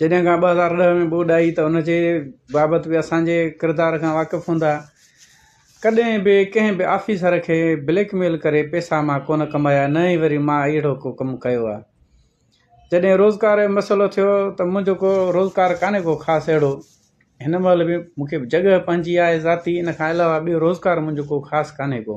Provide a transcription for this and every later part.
جڏهن کان ٻه هزار ڏهه ۾ ٻوڏ آئي ته ان جي بابت به اسان جي ڪردار کان واقف هوندا. ڪڏهن به ڪنهن به آفيسر کي بليڪ ميل ڪري پيسا مان ڪونه ڪمايا نه ئي وري مان اهڙو ڪو ڪم ڪيو آ. جڏهن روزگار جو مسئلو ٿيو ته منهنجو ڪو روزگار ڪانهي ڪو خاص اهڙو. هن مهل به مون کي جڳهه پنهنجي آهي ذاتي ان کان علاوه ٻيو روزگار منهنجو ڪو خاص ڪانهي ڪو.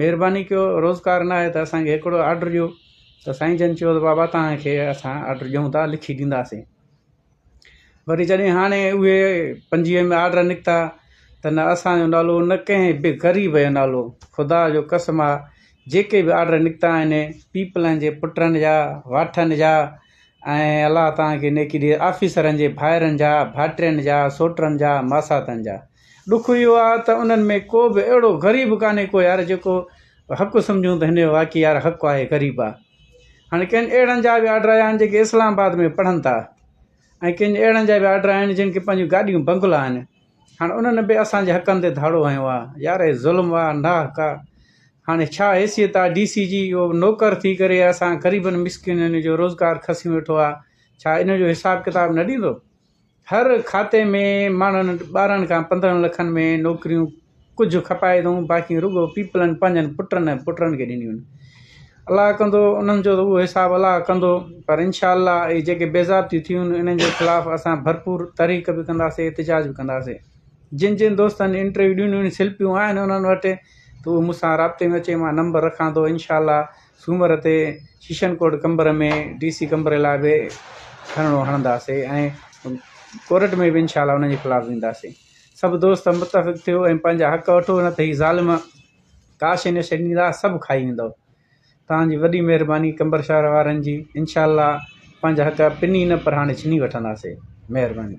مھرباني ڪيو روزگار نه آھي ته اسان کي ھڪڙو آرڊر ڏيو ته سائين جن چيو ته بابا تنھن کي اسان آرڊر ڏيون ٿا لکي ڏينداسين وري جڏھن ھاڻي اھي پنجويھ ۾ آرڊر نڪتا ته نه اسان جو نالو نه ڪنھن به غريب جو نالو خدا جو قسم آھي جيڪي به آرڊر نڪتا آھن پيپلن جي پٽن جا واٺن جا ۽ الله تنھن کي نيڪي ڏي آفيسرن جي ڀائرن جا ڀائٽين جا سوٽن جا ماساتن جا ڏک اهو آ ته انهن ۾ ڪو به اهڙو غريب ڪانهي ڪو يار جيڪو حق سمجهون ته هن جو واقعي يار حق آهي غريب آ هاڻي ڪن اهڙن جا به آرڊر آيا آهن جيڪي اسلام آباد ۾ پڙهن ٿا ۽ ڪن اهڙن جا به آرڊر آيا آهن جن کي پنهنجون گاڏيون بنگلا آهن هاڻي انهن به اسان جي حقن تي ڌاڙو هنيو آ يار هي ظلم آ ناحق آ هاڻي ڇا حيثيت آ ڊي سي جي اهو نوڪر ٿي ڪري اسان غريبن مسڪينن جو روزگار کسيون ويٺو آ ڇا ان جو حساب ڪتاب نه ڏيندو هر کاتي ۾ ماڻهن ٻارهن کان پندرهن لکن ۾ نوڪريون ڪجهه کپائي اٿئون باقي رڳو پيپلن پنهنجن پٽن ۽ پٽڙن کي ڏنيون آهن الله ڪندو انهن جو ته اهو حساب الله ڪندو پر انشاء الله اهي جيڪي بيزابطيون ٿيون آهن انهن جي خلاف اسان ڀرپور تحريڪ به ڪنداسي احتجاج به ڪنداسي جن جن دوستن انٽرويو ڏنيون آهن سلپيون آهن انهن وٽ ته اهو مون سان رابطي ۾ اچي مان نمبر رکان ٿو انشاء الله سومر تي session court Qambar ۾ D C Qambar لاء به ڌرڻو هڻنداسين ۽ ڪورٽ ۾ به انشاء الله انهن جي خلاف وينداسين سڀ دوست متفق ٿيو ۽ پنهنجا حق وٺو نه ته هي ظالم ڪاشي نشي ڏيندا سڀ کائي ويندو تنهنجي وڏي مهرباني قمبر شهر وارن جي انشاء الله پنهنجا حق پني نه پر هاڻي ڇني وٺنداسين مهرباني